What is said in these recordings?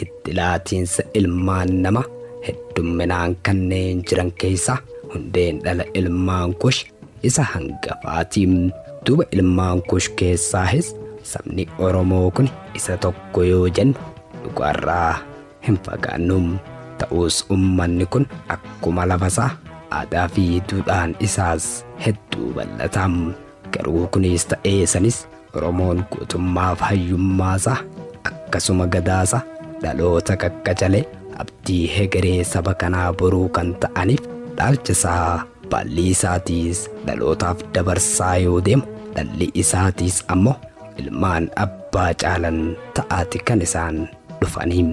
Hiddi laatiinsa ilmaan nama heddumminaan kanneen jiran keeysa hundeen dhala ilmaan Kush isa hangafaati. Duuba ilmaan Kush keessaahis sabni Oromoo kun isa tokko yoo jennu dhugaarraa hin fagaannu. Ta'uus ummanni kun akkuma lafasaa aadaa fi duudhaan isaas hedduu bal'ata. Garuu kunis ta'ee sanis Oromoon gootummaaf hayyummaasaa akkasuma gadaasaa dhaloota qaqqacalee abdii hegeree saba kanaa boruu kan ta'aniif dhaalchasaa baallii isaatiis dhalootaaf dabarsaa yoo deemu dhalli isaatiis ammoo ilmaan abbaa caalan ta'aati kan isaan dhufanii.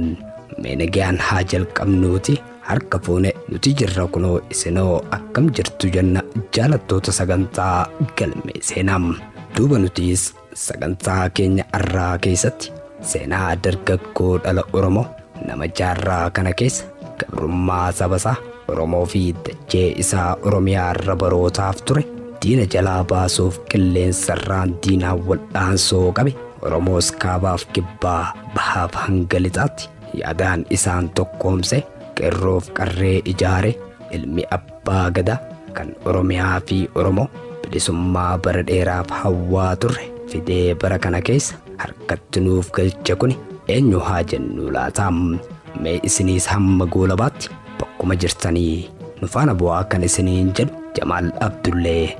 Mee nagayaan haa jalqabnuuti. Harka fuune nuti jirra kunoo isinoo akkam jirtu jenna jaalattoota sagantaa galmee seenaa duuba nutiis sagantaa keenya arraa keessatti seenaa dargaggoo dhala oromoo nama jaarraa kana keessa gabrummaa sabasaa oromoo fi dachee isaa oromiyaa irra barootaaf ture diina jalaa baasuuf qilleensarraan diinaan wal'aansoo qabe oromoos kaabaaf kibbaa bahaaf hanga lixaatti Yaadaan isaan tokkoomse, qerroof qarree ijaare, ilmi abbaa gada kan Oromiyaa fi Oromo bilisummaa bara dheeraaf hawwaa turre fidee bara kana keessa harkatti nuuf galche kuni eenyu haa jennuu laata? Mee isiniis hamma goolabaatti bakkuma jirtanii nu faana bu'aa kan isiniin jedhu Jamaal Abdullee.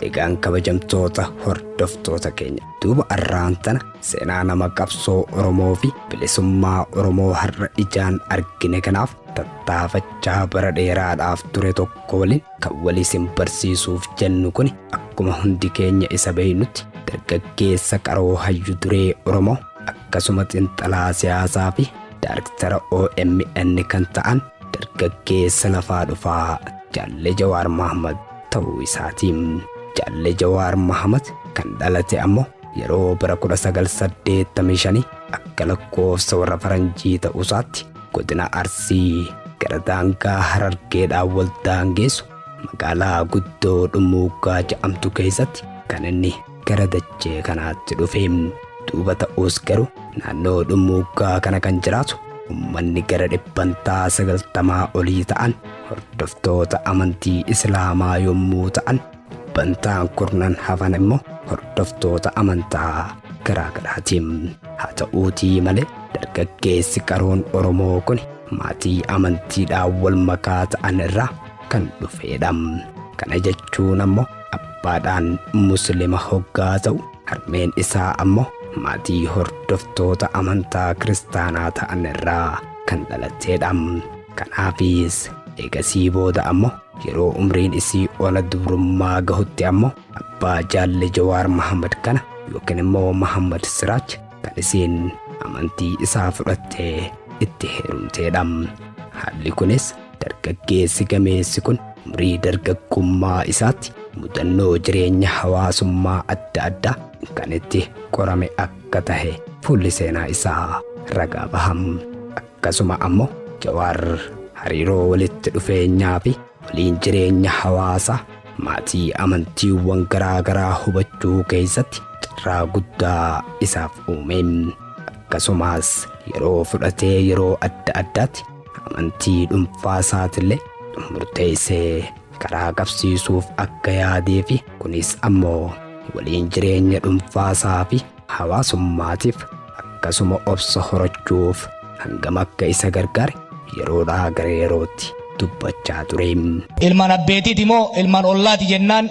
Egaan kabajamtoota hordoftoota keenya duuba arraan tana seenaa nama qabsoo Oromoo fi bilisummaa Oromoo har'a ijaan argine kanaaf tattaafachaa bara dheeraadhaaf ture tokko waliin kan walii sin barsiisuuf jennu kun akkuma hundi keenya isa beeynutti dargaggeessa qaroo hayyu duree Oromoo akkasuma xinxalaa siyaasaa fi daarektara OMN kan ta'an dargaggeessa lafaa dhufaa Jaalle Jawaar Mahaammad ta'uu isaati. Jaalle Jawaar Mahamat kan dhalate ammo yeroo bara 1985 akka lakkoofsa warra faranjii ta'uusaatti godina Arsii gara daangaa Harargeedhaan wal daangeessu magaalaa guddoo Dhummuuggaa ja'amtu keessatti kan inni gara dachee kanaatti dhufe. Duuba ta'us garuu naannoo dhummuuggaa kana kan jiraatu ummanni gara dhibbantaa sagaltamaa olii ta'an hordoftoota amantii Islaamaa yommuu ta'an dhibbantaan kurnan hafan immoo hordoftoota amantaa garaa garaati. Haa ta'uutii malee dargaggeessi qaroon Oromoo kun maatii amantiidhaan wal makaa ta'an irraa kan dhufeedha. Kana jechuun ammoo Abbaadhaan Muslima hoggaa ta'u, harmeen isaa ammo maatii hordoftoota amantaa Kiristaanaa ta'an irraa kan dhalatteedha. Kanaafis eegasii booda ammo yeroo umriin isii ona dubrummaa gahutti ammo abbaa Jaalle Jawaar Mahammad kana yookiin immoo Mahammad Siraaj kan isiin amantii isaa fudhattee itti heerumteedha. Haalli kunis Dargaggeessi gameessi kun umrii dargaggummaa isaatti mudannoo jireenya hawaasummaa adda addaa kan itti qorame akka tahe fuulli seenaa isaa ragaa baham. Akkasuma ammoo Jawaar hariiroo walitti dhufeenyaa fi waliin jireenya hawaasaa maatii amantiiwwan garaa garaa hubachuu keessatti carraa guddaa isaaf uume. Akkasumas yeroo fudhatee yeroo adda addaatti Amantii dhuunfaa isaatiillee murteessee karaa qabsiisuuf akka yaadee fi kunis ammoo waliin jireenya dhuunfaa isaa fi hawaasummaatiif akkasuma obsa horachuuf hangam akka isa gargaare yeroodhaa gara yerootti dubbachaa ture. Ilmaan abbeetiiti moo ilmaan ollaati jennaan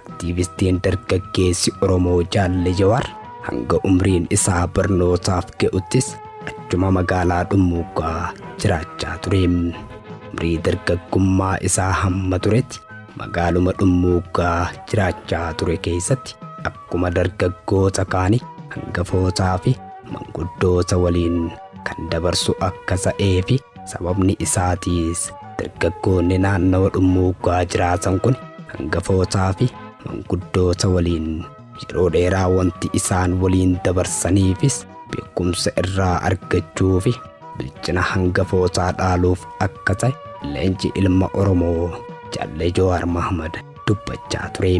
Aktiivistiin dargaggeessi Oromoo Jaalle Jawaar hanga umriin isaa barnootaaf ga'uttis achuma magaalaa Dhummuugaa jiraachaa ture. Umrii dargaggummaa isaa hamma turetti magaaluma Dhummuugaa jiraachaa ture keessatti akkuma dargaggoota kaanii hangafootaa fi manguddoota waliin kan dabarsu akka ta'ee fi Sababni isaatiis dargaggoonni naannawa dhummuuggaa jiraatan kun hangafootaa fi manguddoota waliin yeroo dheeraa wanti isaan waliin dabarsaniifis beekumsa irraa argachuu fi bilchina hangafootaa dhaaluuf akka ta'e leenci ilma Oromoo Jaallee Jawaar Mahmad dubbachaa ture.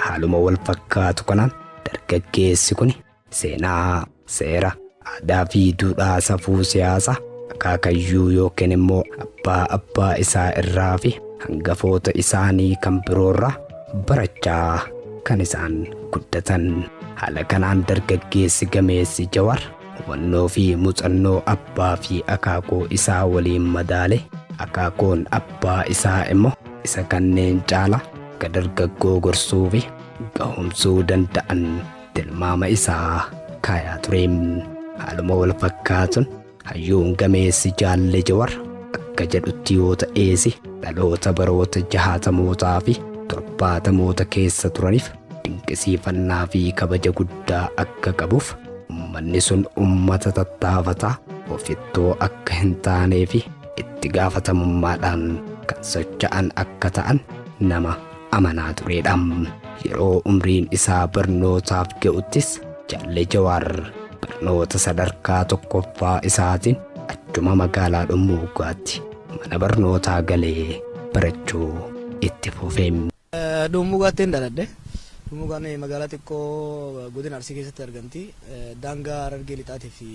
Haaluma wal fakkaatu kanaan dargaggeessi kun Seenaa, seera, aadaa fi duudhaa safuu siyaasa akaakayyuu yookiin immoo abbaa abbaa isaa irraa fi hangafoota isaanii kan biroorraa barachaa kan isaan guddatan. Haala kanaan dargaggeessi gameessi Jawar hubannoo fi muuxannoo abbaa fi akaakoo isaa waliin madaale akaakoon abbaa isaa immoo isa kanneen caala akka dargaggoo gorsuu fi gahumsuu danda'an tilmaama isaa kaayaa ture. Haaluma wal fakkaatuun hayyuun gameessi jaalle jawar akka jedhutti yoo ta'eesi dhaloota baroota jahaatamootaa fi torbaatamoota keessa turaniif dinqisiifannaa fi kabaja guddaa akka qabuuf ummanni sun ummata tattaafataa ofittoo akka hin taanee fi itti gaafatamummaadhaan kan socha'an akka ta'an nama amanaa tureedha. Yeroo umriin isaa barnootaaf ga'uttis Jaalle Jawaar barnoota sadarkaa tokkoffaa isaatiin achuma magaalaa Dhummuugaatti mana barnootaa galee barachuu itti fufe. Dhummuugaattiin dhaladhe. Dhummuugaan magaalaa xiqqoo godina Arsii keessatti argamti. Daangaa Harargee Lixaatii fi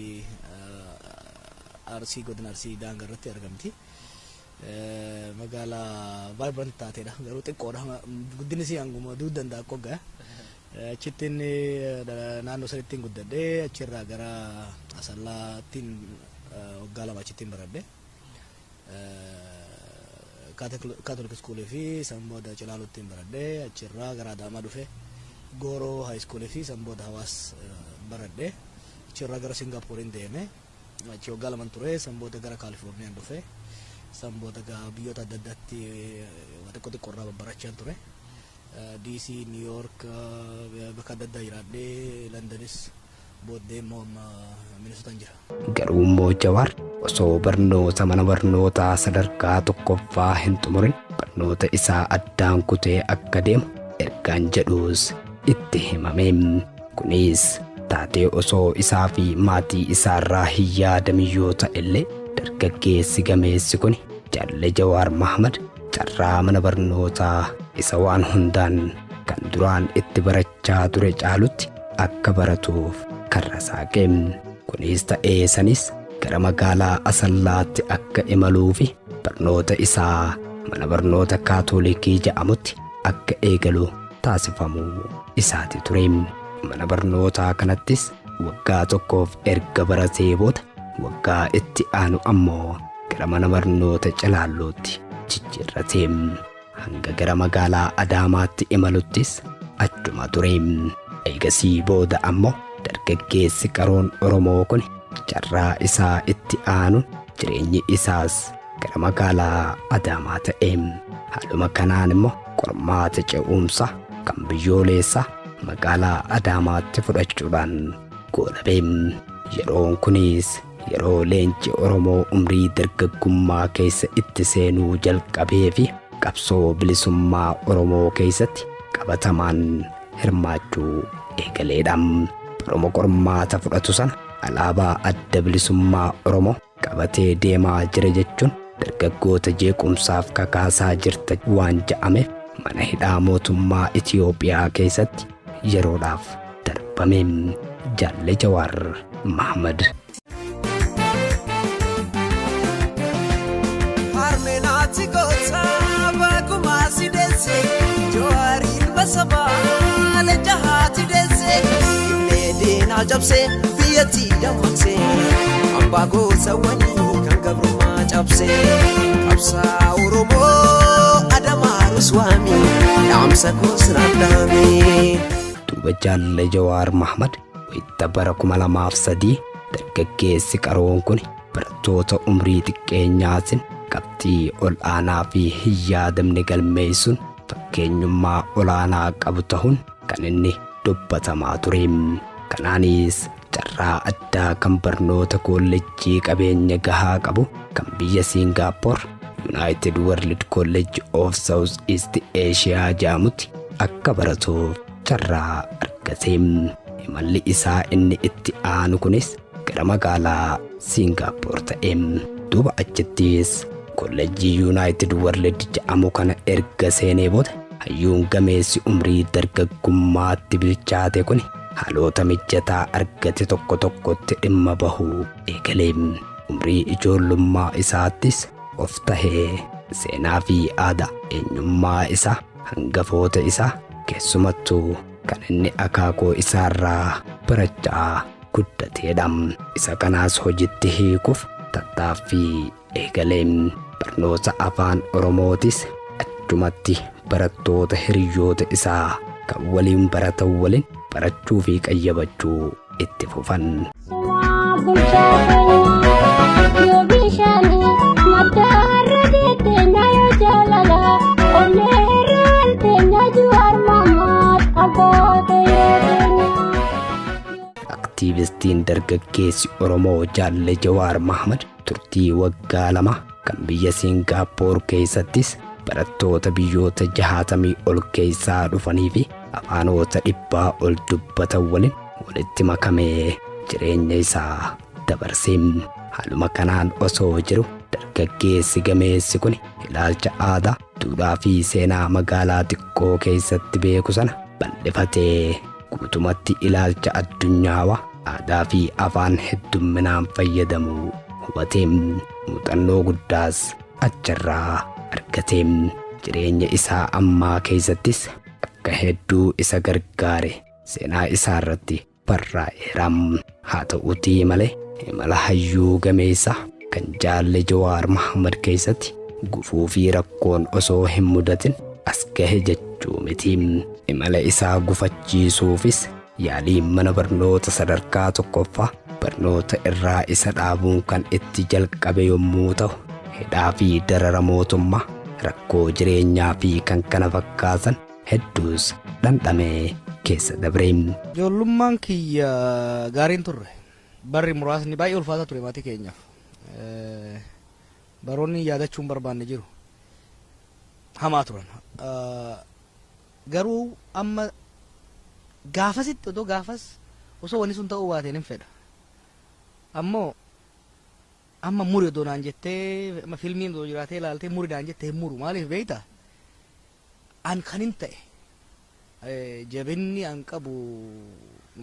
Arsii godina Arsii daangaa irratti argamti. Magaala vibrant taatedha. Garuu xiqqoodha. Guddinni isii hanguma duuti danda'a qogga. Achitti inni naannoo sanitti hin guddadhe. Achirraa gara Asallaattiin waggaa lama achitti hin baradhe. Kaatolik iskuulii fi san booda Cilaaluutti hin baradhe. Achirraa gara Adaamaa dhufe. Gooroo haayiskuulii fi san booda Hawaas baradhe. Achirraa gara Singaapooriin deeme. Achi waggaa laman ture san booda gara Kaalifoorniyaan dhufe. San booda gaa biyyoota adda addaatti waa xiqqoo xiqqoo irraa babbarachaan ture. DC, New York bakka adda addaa jiraadhee Landanis booddee immoo amma Minnesotaan jira. Garuu immoo Jawaar osoo barnoota mana barnootaa sadarkaa tokkoffaa hin xumurin barnoota isaa addaan kutee akka deemu ergaan jedhuus itti himame. Kunis taatee osoo isaa fi maatii isaa irraa hin yaadamin yoo ta'e illee dargaggeessi gameessi kuni Jalle Jawaar Mahmad carraa mana barnootaa isa waan hundaan kan duraan itti barachaa ture caalutti akka baratuuf karra saaqe. Kunis ta'ee sanis gara magaalaa Asallaatti akka imaluu fi barnoota isaa mana barnoota Kaatoolikii ja'amutti akka eegalu taasifamuu isaati ture. Mana barnootaa kanattis waggaa tokkoof erga baratee booda waggaa itti aanu ammoo gara mana barnoota Calaallootti jijjiirrate. Hanga gara magaalaa Adaamaatti imaluttis achuma ture. Eegasii booda ammoo dargaggeessi qaroon Oromoo kun carraa isaa itti aanuun jireenyi isaas gara magaalaa Adaamaa ta'e. Haaluma kanaan immoo qormaata ce'umsa kan biyyooleessa magaalaa Adaamaatti fudhachuudhaan goolabe. Yeroon kunis yeroo leenci Oromoo umrii dargaggummaa keessa itti seenuu jalqabee fi qabsoo bilisummaa Oromoo keessatti qabatamaan hirmaachuu eegaleedha. Baruma qormaata fudhatu sana alaabaa adda bilisummaa Oromoo qabatee deemaa jira jechuun dargaggoota jeequmsaaf kakaasaa jirta waan ja'ameef mana hidhaa mootummaa Itiyoophiyaa keessatti yeroodhaaf darbame. Jaalle Jawaar Mahamad. Harmeenaati goota bakumaa si deesse Jawaar ilma sabaa leenca haati deesse Illee diinaa cabsee biyyatti dammaqsee abbaa goosawwanii kan gabrummaa cabsee qabsaa oromoo adamaa ruswaamii dhaamsa koos raaddaamee. duuba jaalle jawaar mahmad wayita bara 2003 dargaggeessi qaroon kun barattoota umrii xiqqeenyaatiin qabxii ol aanaa fi hin yaadamne galmeessuun fakkeenyummaa olaanaa qabu ta'uun kan inni dubbatamaa ture. Kanaanis carraa addaa kan barnoota koolleejjii qabeenya gahaa qabu kan biyya Siingaappoor Yuunaayitid World College of South East Asia jedhamutti akka baratuuf carraa argate. Imalli isaa inni itti aanu kunis gara magaalaa Siingaappoor ta'e. Duuba achittis kollejjii Yuunaayitid Warlid jedhamu kana erga seenee booda hayyuun gameessi umrii dargaggummaatti bilchaate kun haloota mijataa argate tokko tokkotti dhimma bahuu eegale. Umrii ijoollummaa isaattis of tahee seenaa fi aadaa eenyummaa isaa hangafoota isaa keessumattuu kan inni akaakoo isaarraa barachaa guddateedha. Isa kanaas hojitti hiikuuf tattaaffii eegale. Barnoota afaan Oromootis achumatti barattoota hiriyyoota isaa kan waliin baratan waliin barachuu fi qayyabachuu itti fufan. Abba Aktiivistiin dargaggeessi Oromoo Jaalle Jawaar Mahmad turtii waggaa lama kan biyya Siingaappoor keessattis barattoota biyyoota jahaatamii ol keessaa dhufanii fi afaanoota dhibbaa ol dubbatan waliin walitti makamee jireenya isaa dabarse. Haaluma kanaan osoo jiru dargaggeessi gameessi kun ilaalcha aadaa, duudhaa fi seenaa magaalaa xiqqoo keessatti beeku sana bal'ifatee guutumatti ilaalcha addunyaawa aadaa fi afaan heddumminaan fayyadamu hubatee muuxannoo guddaas achirraa argatee jireenya isaa ammaa keessattis akka hedduu isa gargaare seenaa isaarratti barraa'eera. Haa ta'uutii malee imala hayyuu gameessa kan jaalle Jawaar Mahammad keessatti gufuu fi rakkoon osoo hin mudatin as gahe jechuu miti. Imala isaa gufachiisuufis yaaliin mana barnoota sadarkaa tokkoffaa barnoota irraa isa dhaabuun kan itti jalqabe yommuu ta'u, hidhaa fi darara mootummaa, rakkoo jireenyaa fi kan kana fakkaatan Hedduus dhandhamee keessa dabre. Ijoollummaan kiyya gaarii hin turre. Barri muraasni baay'ee ulfaataa ture maatii keenyaaf. Baroonni yaadachuu hin barbaanne jiru. Hamaa turan. Garuu amma gaafasitti otoo gaafas osoo wanni sun ta'uu baateen hin fedha. Ammoo amma muri odoo naan jettee amma filmiin odoo jiraatee ilaaltee muri naan jette hin muru maaliif beektaa? An kanin ta'e jabinni an qabu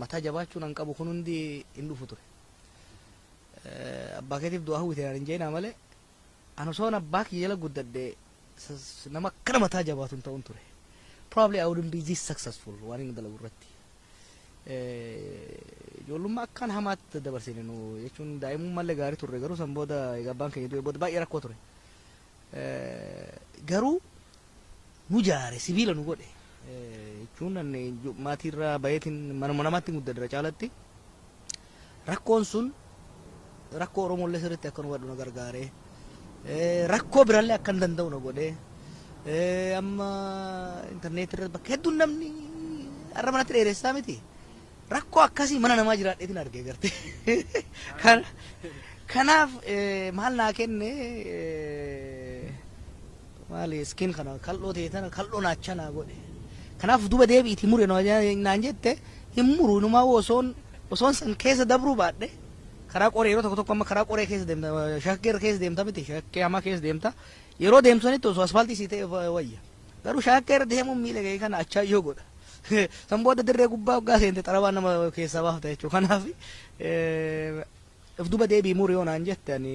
mataa jabaachuun an qabu kun hundi hin dhufu ture. Abbaa keetiif du'aa hawwite naan hin jeenaa malee an osoon abbaa kiyya jala guddadhe nama akkana mataa jabaatu hin ta'un ture. Probably I wouldn't be this successful waan inni dalagu irratti. Ijoollummaa akkaan hamaatti dabarsine nu jechuun daa'imummallee gaarii turre garuu san booda egaa abbaan keenya du'e booda baay'ee rakkoo ture. garuu nu jaare sibiila nu godhe jechuun maatii irraa bayeetiin manuma namaatti muddadra caalatti rakkoon sun rakkoo Oromoollee sirriitti akka nu hubadhu na gargaare rakkoo birallee akka hin danda'u na godhe amma intarneetii irratti bakka hedduun namni har'a manatti dheeressaa miti. Rakkoo akkasii mana namaa jiraadheetiin arge garte. Kanaaf maal naa kenne maali iskiin kana kal'oo ta'e tana kal'oo naacha naa godhe. Kanaaf duba deebi'iti mure naan jette hin muru inumaa osoon osoon san keessa dabruu baadhe karaa qoree yeroo tokko tokko amma karaa qoree keessa deemta shakkee keessa deemta miti shakkee hamaa keessa deemta yeroo deemtu sanitti osoo asfaaltii sii ta'e wayya. Garuu shaakkee irra deemuun miila kee kana achaayyoo godha. San booda dirree gubbaa hoggaa seente xarabaa nama keessaa baafta jechuudha. Kanaaf if duba deebii muru yoo naan jette ani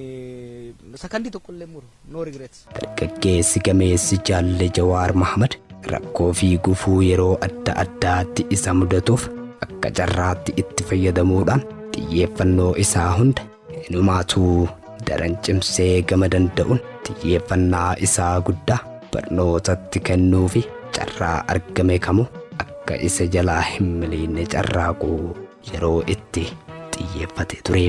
sakandii tokkollee muru no regrets. Dargaggeessi gameessi Jaalle Jawaar Mahmad rakkoo fi gufuu yeroo adda addaatti isa mudatuuf akka carraatti itti fayyadamuudhaan xiyyeeffannoo isaa hunda Inumaatuu daran cimsee gama danda'uun xiyyeeffannaa isaa guddaa barnootatti kennuufi carraa argame kamuu akka isa jalaa hin miliinne carraaqu yeroo itti xiyyeeffate ture.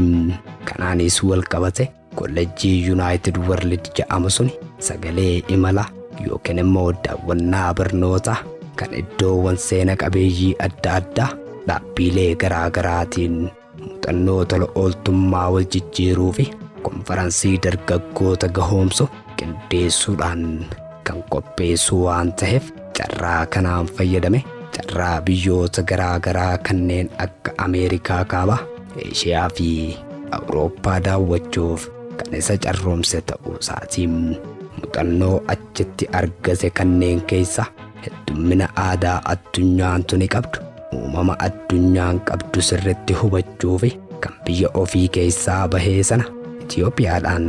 Kanaanis walqabate kollejjii Yuunaayitid Warlid ja'amu suni sagalee imalaa yookiin immoo daawwannaa barnootaa kan iddoowwan seena qabeeyyii adda addaa dhaabbiilee garaa garaatiin Muuxannoo tola ooltummaa wal jijjiiruu fi konfaransii dargaggoota gahoomsu qindeessuudhaan kan qopheessu waan ta'eef carraa kanaan fayyadame carraa biyyoota garaa garaa kanneen akka Ameerikaa kaabaa, Eeshiyaa fi Awurooppaa daawwachuuf kan isa carroomse ta'uu isaati. Muuxannoo achitti argate kanneen keessa heddummina aadaa addunyaan tuni qabdu uumama addunyaan qabdu sirritti hubachuufi kan biyya ofii keessaa bahee sana Itoophiyaadhaan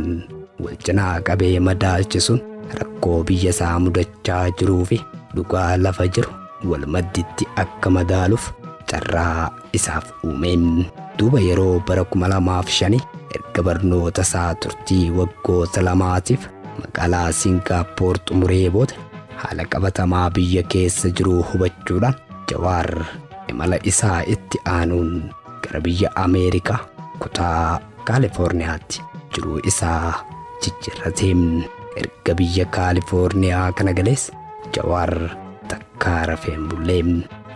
wal cinaa qabee madaalchisuun rakkoo biyya isaa mudachaa jiruufi dhugaa lafa jiru wal madditti akka madaaluuf carraa isaaf uume. Duuba yeroo bara 2005 erga barnoota isaa turtii waggoota lamaatiif magaalaa Singaappoor xumuree booda haala qabatamaa biyya keessa jiruu hubachuudhaan Jawaar imala isaa itti aanuun gara biyya Ameerikaa kutaa Kaalifoorniyaatti jiruu isaa jijjiirrate. Erga biyya Kaalifoorniyaa kana galees Jawaar takkaa rafee hin bulle.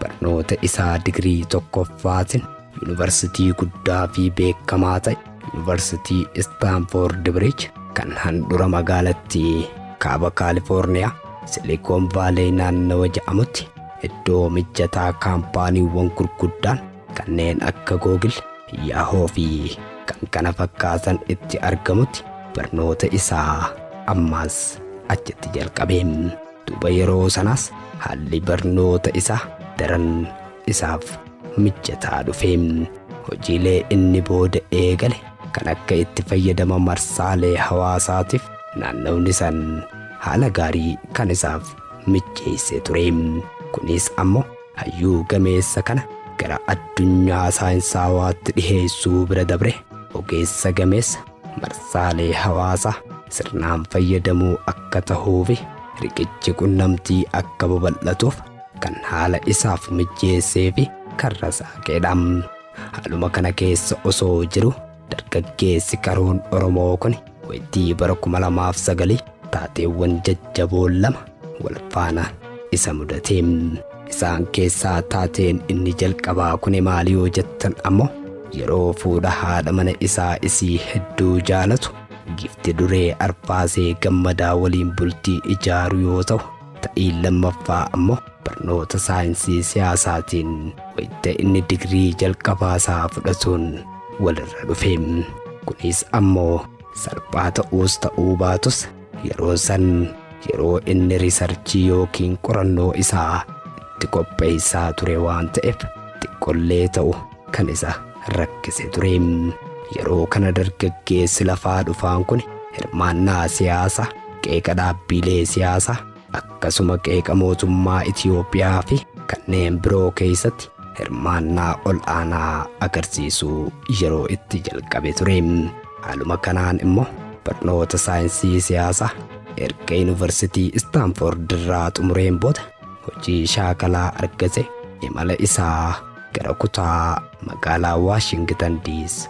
Barnoota isaa digirii tokkoffaatiin Yuunivarsitii guddaa fi beekamaa ta'e Yuunivarsitii Istaanfoord Biriij kan handhura magaalattii kaaba Kaalifoorniyaa Silikoon Vaalee naannawa ja'amutti iddoo mijataa kaampaaniiwwan gurguddaan kanneen akka Googil, Yaahoo fi kan kana fakkaatan itti argamutti barnoota isaa ammaas achitti jalqabe. Duuba yeroo sanaas haalli barnoota isaa daran isaaf mijataa dhufe. Hojiilee inni booda eegale kan akka itti fayyadama marsaalee hawaasaatiif naannawni san haala gaarii kan isaaf mijeessee ture. Kunis ammoo hayyuu gameessa kana gara addunyaa saayinsaawaatti dhiheessuu bira dabre ogeessa gameessa marsaalee hawaasa sirnaan fayyadamoo akka tahuufi riqichi qunnamtii akka babal'atuuf kan haala isaaf mijjeesseefi karra saaqeedha. Haaluma kana keessa osoo jiru dargaggeessi qaroon Oromoo kun waytii bara 2009 taateewwan jajjaboo lama wal faana isa mudate. Isaan keessaa taateen inni jalqabaa kuni maali yoo jettan ammoo yeroo fuudha haadha mana isaa isii hedduu jaalatu gifti duree arfaasee gammadaa waliin bultii ijaaru yoo ta'u ta'iin lammaffaa ammoo barnoota saayinsii siyaasaatiin wayita inni digrii jalqabaa isaa fudhatuun walirra dhufe. Kunis ammoo Salphaa ta'uus ta'uu baatus yeroo san yeroo inni risarchii yookiin qorannoo isaa itti qopheessaa ture waan ta'eef xiqqollee ta'u kan isa rakkise ture. Yeroo kana dargaggeessi lafaa dhufaan kun hirmaannaa siyaasa, qeeqa dhaabbiilee siyaasa, akkasuma qeeqa mootummaa Itiyoophiyaa fi kanneen biroo keessatti hirmaannaa ol aanaa agarsiisuu yeroo itti jalqabe ture. Haaluma kanaan immoo barnoota saayinsii siyaasaa erga yuunivarsitii Istaanfoord irraa xumureen booda hojii shaakalaa argate imala isaa gara kutaa magaalaa Waashingitan Diis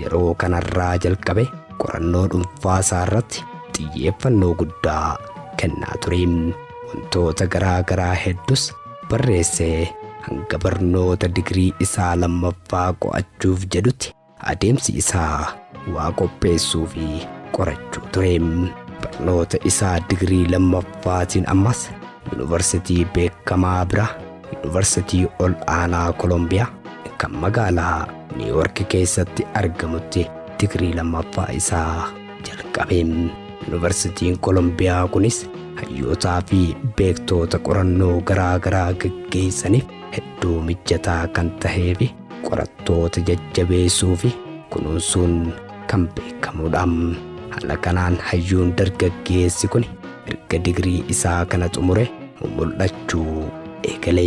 Yeroo kanarraa jalqabe qorannoo dhuunfaa isaarratti xiyyeeffannoo guddaa kennaa ture. Wantoota garaa garaa heddus barreessee hanga barnoota digirii isaa lammaffaa qo'achuuf jedhutti adeemsi isaa waa qopheessuu fi qorachuu ture. Barnoota isaa digirii lammaffaatiin ammas yuunivarsitii beekamaa bira Yuunivarsitii ol aanaa Kolombiyaa kan magaalaa Niiwoorki keessatti argamutti digirii lammaffaa isaa jalqabe. Yuunivarsitiin Kolombiyaa kunis hayyootaa fi beektoota qorannoo garaa garaa gaggeessaniif hedduu mijataa kan tahee fi qorattoota jajjabeessuu fi kunuunsuun kan beekamudha. Haala kanaan hayyuun dargaggeessi kun erga digirii isaa kana xumure mumul'achuu eegale.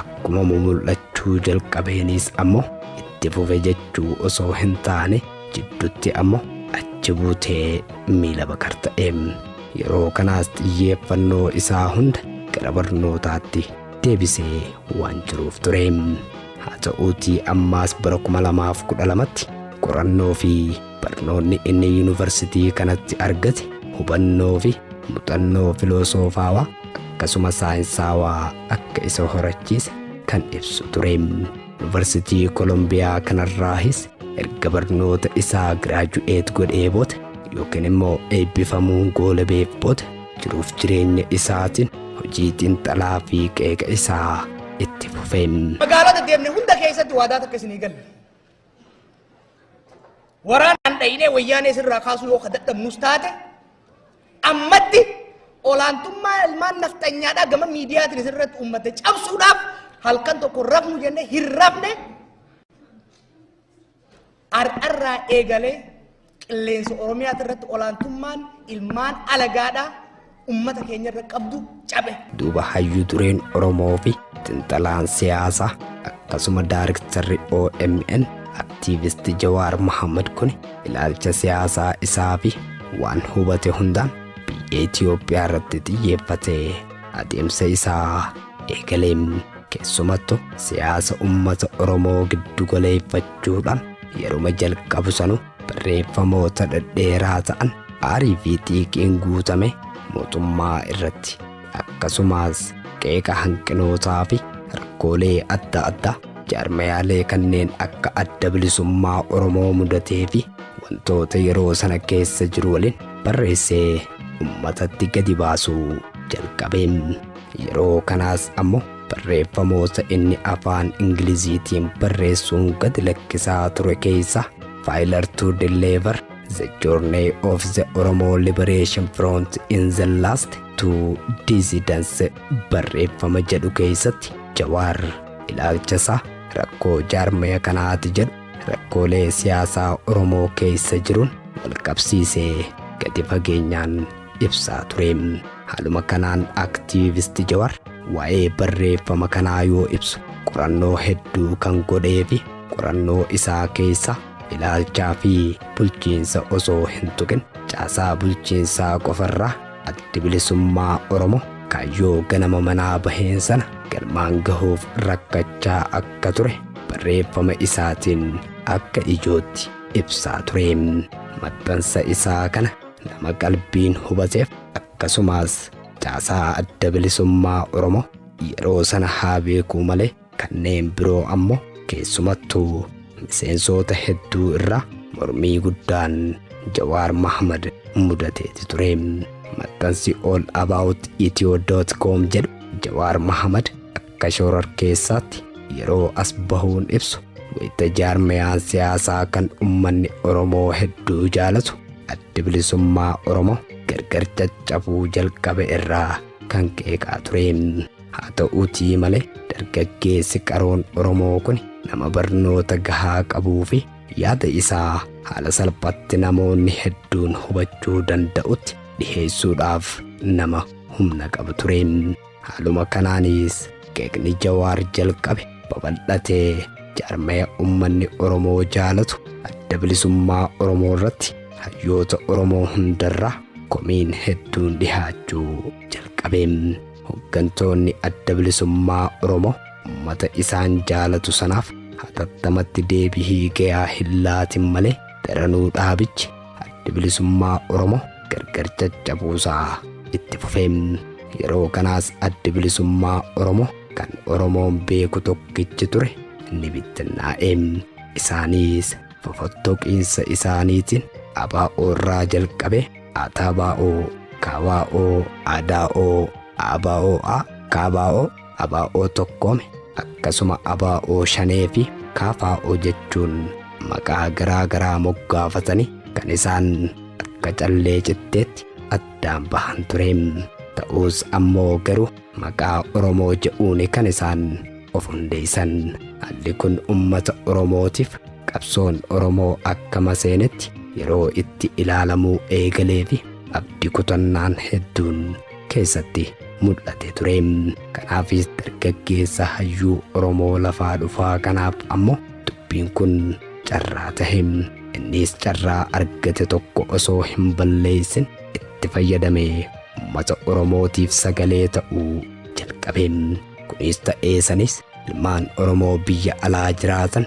Akkuma mumul'achuu jalqabeenis ammoo itti fufe jechuu osoo hin taane jiddutti ammoo achi buutee miila bakar ta'e. Yeroo kanaas xiyyeeffannoo isaa hunda gara barnootaatti deebisee waan jiruuf ture. Haa ta'uutii ammaas bara 2012tti qorannoo fi barnoonni inni yuunivarsitii kanatti argate hubannoo fi muxannoo filosoofaawaa akkasuma saayinsaawaa akka isa horachiise kan ibsu ture. Yuunivarsitii Kolombiyaa kanarraahis erga barnoota isaa giraaju'eet godhee booda yookiin immoo eebbifamuun goolabeef booda jiruuf jireenya isaatiin hojii xiinxalaa fi qeeqa isaa itti fufeen. Magaalota deemne hunda keessatti waadaa takka isinii galle. Waraanaan dhayinee wayyaanee sirraa kaasuu yoo kadhadhabnus taate ammatti olaantummaa ilmaan nafxanyaadhaa gama miidiyaatiin sirratti uummata cabsuudhaaf halkan tokko rafnu jennee hin rafne Har'arraa eegalee qilleensa Oromiyaa irratti olaantummaan ilmaan alagaadhaa ummata keenya irra qabdu cabe. Duuba hayyuu dureen Oromoo fi xinxalaan siyaasaa akkasuma daariktarri OMN aktiivisti Jawaar Mohaammed kun ilaalcha siyaasaa isaa fi waan hubate hundaan biyya Itoophiyaa irratti xiyyeeffatee adeemsa isaa eegale. Keessumattu siyaasa ummata Oromoo giddu galeeffachuudhaan yeruma jalqabu sanu barreeffamoota dhedheeraa ta'an aarii fi xiiqiin guutame mootummaa irratti akkasumas qeeqa hanqinootaa fi rakkoolee adda addaa jaarmayaalee kanneen akka adda bilisummaa Oromoo mudatee fi wantoota yeroo sana keessa jiru waliin barreessee ummatatti gadi baasuu jalqabe. Yeroo kanaas ammoo barreeffamoota inni afaan Ingiliziitiin barreessuun gad lakkisaa ture keessaa Faayilar to Deliver The Journey of the Oromo Liberation Front in the Last Two Dissidents barreeffama jedhu keessatti Jawaar ilaalcha isaa rakkoo jaarmaya kanaati jedhu rakkoolee siyaasaa Oromoo keessa jiruun walqabsiisee gadi fageenyaan ibsaa ture. Haaluma kanaan Activist Jawar waa'ee barreeffama kanaa yoo ibsu qorannoo hedduu kan godhee fi qorannoo isaa keessa ilaalchaa fi bulchiinsa osoo hin tuqin caasaa bulchiinsaa qofarraa addi bilisummaa Oromoo kaayyoo ganama manaa baheen sana galmaan gahuuf rakkachaa akka ture barreeffama isaatiin akka ijootti ibsaa ture. Maxxansa isaa kana nama qalbiin hubateef akkasumaas caasaa adda bilisummaa Oromoo yeroo sana haa beekuu malee kanneen biroo ammoo keessumattuu miseensoota hedduu irraa mormii guddaan Jawaar Mahamad mudateeti ture. Maxxansi all about ethio.com jedhu Jawaar Mahamad Akka shororkeessaatti yeroo as bahuun ibsu wayita jaarmayaan siyaasaa kan ummanni Oromoo hedduu jaalatu addi bilisummaa Oromoo gargar caccabuu jalqabe irraa kan qeeqaa ture. Haa ta'uutii malee dargaggeessi qaroon Oromoo kun nama barnoota gahaa qabuu fi yaada isaa haala salphatti namoonni hedduun hubachuu danda'utti dhiheessuudhaaf nama humna qabu ture. Haaluma kanaanis qeeqni Jawaar jalqabe babal'atee jaarmaya ummanni Oromoo jaalatu adda bilisummaa Oromoo irratti hayyoota Oromoo hundarraa komiin hedduun dhihaachuu jalqabe. Hoggantoonni adda bilisummaa Oromoo ummata isaan jaalatu sanaaf hatattamatti deebihii gayaa hin laatin malee daranuu dhaabichi Addi Bilisummaa Oromoo gargar caccabuusaa itti fufee yeroo kanaas Addi Bilisummaa Oromoo kan Oromoon beeku tokkichi ture ni bittinnaa'e. Isaanis fofottoqiinsa isaaniitiin abaa'oo irraa jalqabee ataabaa'oo, kaabaa'oo, adaa'oo, aabaa'oo, a, kaabaa'oo, ABO tokkoome akkasuma ABO shanee fi KFO jechuun maqaa garaa garaa moggaafatanii kan isaan akka callee citteetti addaan bahan ture. Ta'us ammoo garuu maqaa Oromoo jedhuun kan isaan of hundeessan. Haalli kun uummata Oromootiif qabsoon Oromoo akka maseenetti yeroo itti ilaalamuu eegalee fi abdi kutannaan hedduun keessatti mul'ate ture. Kanaafis dargaggeessa hayyuu Oromoo lafaa dhufaa kanaaf ammoo dubbiin kun carraa tahe. Innis carraa argate tokko osoo hin balleessin itti fayyadamee uummata Oromootiif sagalee ta'uu jalqabe. Kunis ta'ee sanis ilmaan Oromoo biyya alaa jiraatan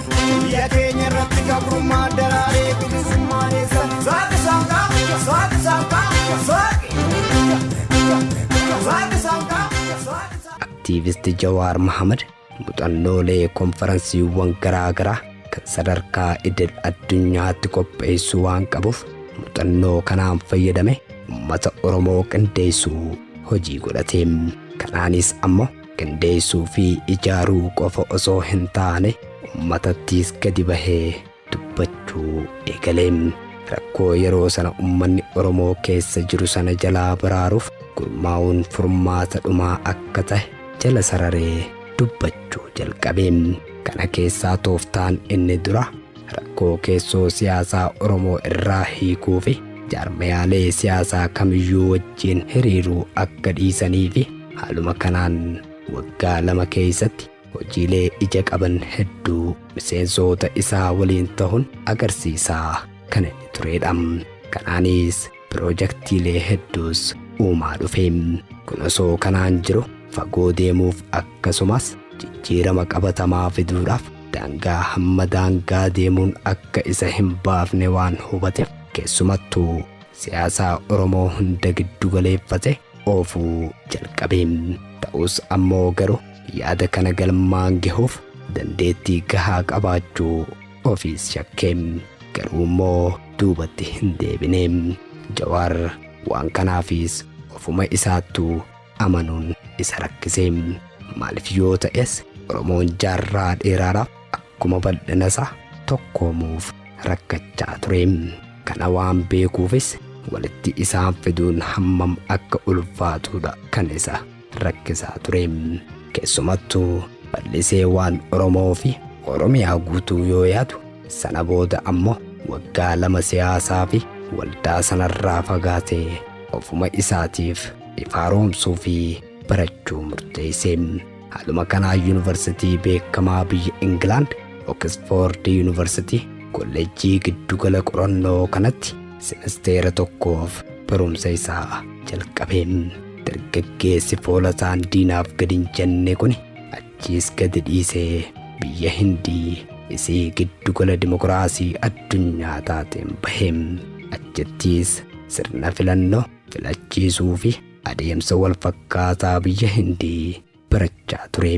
Biyya keenya irratti gabrummaa daraaree bilisummaa eessa? Saaqi saaqaa, saaqi saaqaa, saaqi. Saaqi saaqaa, saaqi saaqaa. Aktiivisti Jawaar Mohaammed muuxannoolee konfaransiiwwan garaagaraa kan sadarkaa idil addunyaatti qopheessuu waan qabuuf muuxannoo kanaan fayyadame uummata Oromoo qindeessuu hojii godhate. Kanaanis ammoo qindeessuu fi ijaaruu qofa osoo hin taane ummatattiis gadi bahee dubbachuu eegale. Rakkoo yeroo sana ummanni Oromoo keessa jiru sana jalaa baraaruuf gurmaa'uun furmaata dhumaa akka tahe jala sararee dubbachuu jalqabe. Kana keessaa tooftaan inni dura Rakkoo keessoo siyaasaa Oromoo irraa hiikuu fi jaarmayaalee siyaasaa kamiyyuu wajjin hiriiruu akka dhiisanii fi haaluma kanaan waggaa lama keessatti hojiilee ija qaban hedduu miseensoota isaa waliin tahun agarsiisaa kan inni tureedha. Kanaanis Piroojaktiilee hedduus uumaa dhufe. Kun osoo kanaan jiru fagoo deemuuf akkasumas jijjiirama qabatamaa fiduudhaaf daangaa hamma daangaa deemuun akka isa hin baafne waan hubateef keessumattuu siyaasaa Oromoo hunda giddu galeeffate oofuu jalqabe. Ta'us ammoo garuu yaada kana galmaan gahuuf dandeettii gahaa qabaachuu Ofiis shakke. Garuu immoo duubatti hin deebine. Jawaar waan kanaafis ofuma isaattu amanuun isa rakkise. Maaliif yoo ta'es Oromoon jaarraa dheeraadhaaf akkuma bal'ina isaa tokkoomuuf rakkachaa ture. Kana waan beekuufis walitti isaan fiduun hammam akka ulfaatudha kan isa rakkisaa ture. Keessumattu bal'isee waan Oromoo fi Oromiyaa guutuu yoo yaadu sana booda ammoo waggaa lama siyaasaa fi waldaa sanarraa fagaatee ofuma isaatiif ifaaromsuu fi barachuu murteesse. Haaluma kanaa yuunivarsitii beekamaa biyya Ingilaand Oksfoord yuunivarsitii kolleejjii giddugala qorannoo kanatti simisteera tokkoof barumsa isaa jalqabe. Dargaggeessi foola isaan diinaaf gad hin jenne kuni achiis gadi dhiisee biyya Hindii isii giddugala dimokiraasii addunyaa taateen bahe. Achittiis sirna filannoo, filachiisuu fi adeemsa wal fakkaataa biyya Hindii barachaa ture.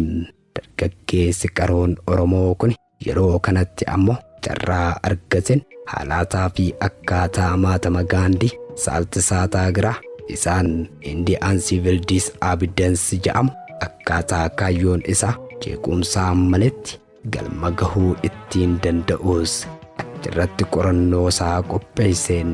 Dargaggeessi qaroon Oromoo kuni Yeroo kanatti ammo carraa argateen haalaataa fi akkaataa maatama Gaandii, Salt Saataagiraa, isaan Indi and Civil Dis Abidens ja'amu akkaataa kaayyoon isaa jeequmsaa maletti galma gahuu ittiin danda'uus achirratti qorannoo isaa qopheesseen.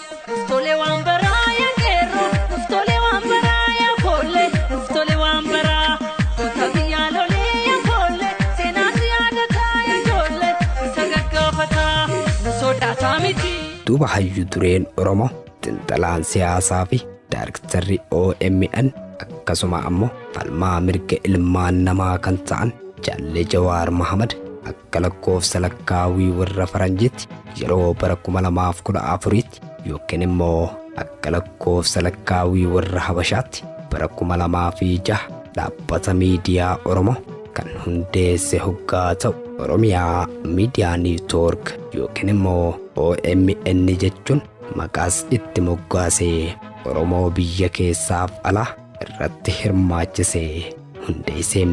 Nuf tole waan baraa yaa qeerroo nuf tole waan baraa yaa foollee nuf tole waan baraa goota biyyaa lolee yaa foollee seenaan si yaadataa yaa ijoollee isa gaggaafataa nu sodaataa miti. Duuba hayyu dureen Oromoo xinxalaan siyaasaa fi daariktarri OMN akkasuma ammoo falmaa mirga ilmaan namaa kan ta'an Jaalle Jawaar Mahamad akka lakkoofsa lakkaawwii warra Faranjiitti yeroo bara 2014tti yookiin immoo akka lakkoofsa lakkaawwii warra Habashaatti bara 2006 dhaabbata miidiyaa Oromoo kan hundeesse hoggaa ta'u Oromiyaa Miidiyaa Niitoork yookiin immoo OMN jechuun maqaas itti moggaasee Oromoo biyya keessaaf alaa irratti hirmaachisee hundeessee.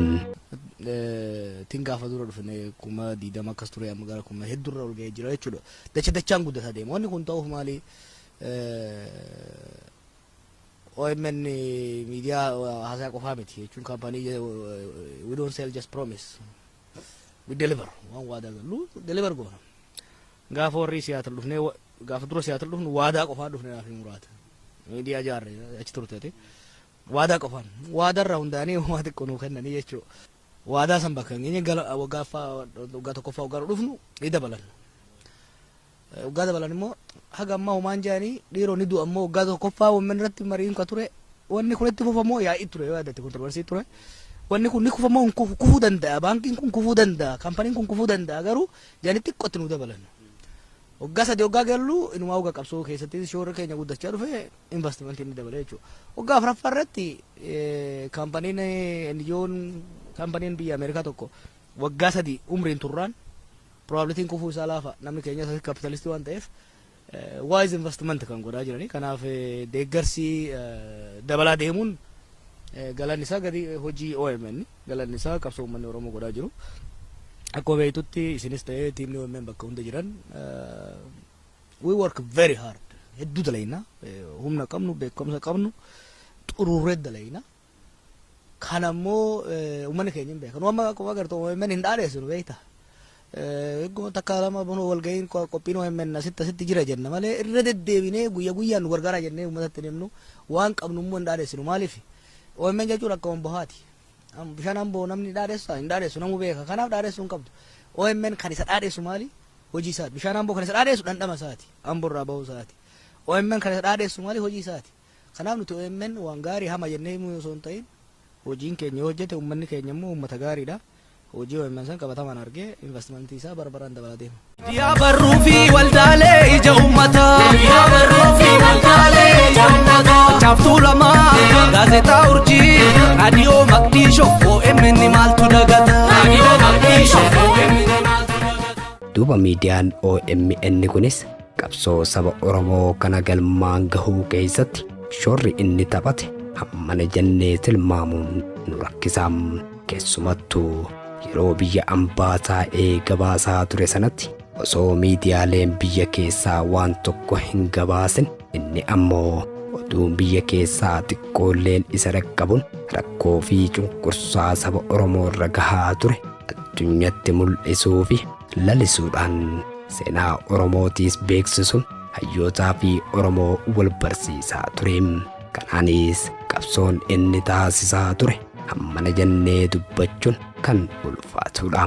tin gaafa dura dhufne kuma diidama akkas ture amma gara kuma heddurra ol ga'ee jira jechuudha. Dacha dachaan guddataa deema. Wanni kun ta'uuf maali? OMN miidiyaa haasaa qofaa miti jechuun kaampaanii we don't sell just promise we deliver waan waadaa gallu deliver goona. Gaafa warri siyaatal dhufne gaafa dura siyaatal dhufnu waadaa qofaa dhufne naaf hin muraata. Miidiyaa jaarre achi turte. Waadaa qofaan. Waadaa irraa hundaa'anii homaa xiqqoo nuu kennanii jechuu. Waadaa san bakka hin geenye gala waggaa ffaa waggaa tokkoffaa waggaa dhufnu ni dabalan. Waggaa dabalan immoo haga ammaa homaa hin jaanii dhiiroo ni du'a immoo waggaa tokkoffaa wammen irratti mariin ka ture wanni kun itti fufamoo yaa'ii ture yoo yaadate kontroversii ture. Wanni kun ni kufamoo hin kufu kufuu danda'a baankiin kun kufuu danda'a kaampaniin kun kufuu danda'a garuu jaanii xiqqoo itti nuu dabalan. Waggaa sadii waggaa gallu inumaa waggaa qabsoo keessatti shoorri keenya guddachaa dhufe Invastimantiin ni dabala jechuudha. Waggaa afraffaa irratti kaampaniin NGO'n kaampaniin biyya Ameerikaa tokko waggaa sadii umriin turraan probabilitiin kufuu isaa laafa namni keenya isa kapitalistii waan ta'eef wise investment kan godhaa jiranii kanaaf deeggarsi dabalaa deemuun galanni isaa gadi hojii OMN galanni isaa qabsoo uummanni Oromoo godhaa jiru. Akkuma beektutti isinis ta'ee tiimni OMN bakka hunda jiran We work very hard. Hedduu dalayna. Humna qabnu, beekumsa qabnu, xururree dalayna. Kan ammoo uummanni keenya hin beekan. Amma akkuma agartu OMN hin dhaadheessinu beekta. Egguma takka lama bunoo walga'iin qophiin OMN asitti asitti jira jenna malee irra deddeebinee guyya guyyaan nu gargaaraa jennee uummatatti hin himnu waan qabnu immoo hin dhaadheessinu maaliif OMN jechuun akka wambahaati. Bishaan amboo namni dhaadheessaa hin dhaadheessu namuu beeka kanaaf dhaadheessuu hin qabdu. OMN kan isa dhaadheessu maali? hojii isaati. Bishaan Amboo kan isa dhaadheessu dhandhama isaati. Amboo irraa bahuu isaati. OMN kan isa dhaadheessu maali hojii isaati. Kanaaf nuti OMN waan gaarii hama jennee himuu osoo hin ta'in hojiin keenya yoo hojjete uummanni keenya immoo uummata gaariidha. Hojii OMN san qabatamaan argee investmentii isaa bara baraan dabalaa deema. Miidiyaa barruu fi waldaalee ija uummataa. Miidiyaa barruu fi waldaalee ija uummataa. Caaftuu lamaa gaazexaa urjii raadiyoo maqdishoo OMN maaltu dagata. Raadiyoo maqdishoo OMN. Duuba miidiyaan OMN kunis qabsoo saba Oromoo kana galmaan gahuu keessatti shoorri inni taphate hammana jennee tilmaamuun nu rakkisa. Keessumattuu yeroo biyya ambaa taa'ee gabaasaa ture sanatti osoo miidiyaaleen biyya keessaa waan tokko hin gabaasin inni ammoo oduun biyya keessaa xiqqoolleen isa dhaqqabuun rakkoo fi cunqursaa saba Oromoo irra gahaa ture addunyatti mul'isuu fi lalisuudhaan seenaa Oromootiis beeksisuun hayyootaa fi Oromoo wal barsiisaa ture. Kanaanis qabsoon inni taasisaa ture hammana jennee dubbachuun kan ulfaatudha.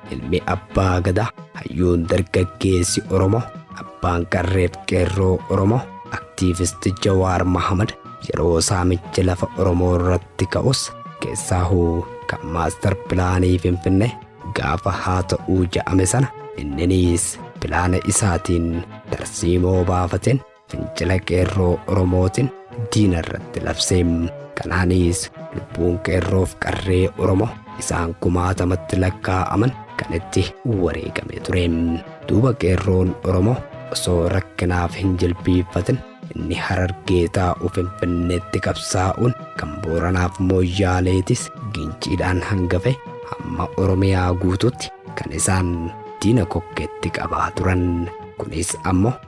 Ilmi Abbaa Gadaa, hayyuun dargaggeessi Oromoo, abbaan qarreef qeerroo Oromoo, aktiivisti Jawaar Mahamad yeroo saamichi lafa Oromoo irratti ka'us keessaahuu kan maastar pilaanii Finfinnee gaafa haa ta'uu ja'ame sana inniniis pilaana isaatiin tarsiimoo baafateen fincila qeerroo Oromootiin diina irratti labse. Kanaanis lubbuun qeerroof qarree Oromoo isaan kumaatamatti lakkaa'aman kan itti wareegame ture. Duuba qeerroon Oromoo osoo rakkinaaf hin jilbiiffatin inni harargee taa'u finfinneetti qabsaa'uun kan booranaaf mooyyaaleetis ginciidhaan hangafe hamma oromiyaa guutuutti kan isaan diina kokkeetti qabaa turan kunis ammoo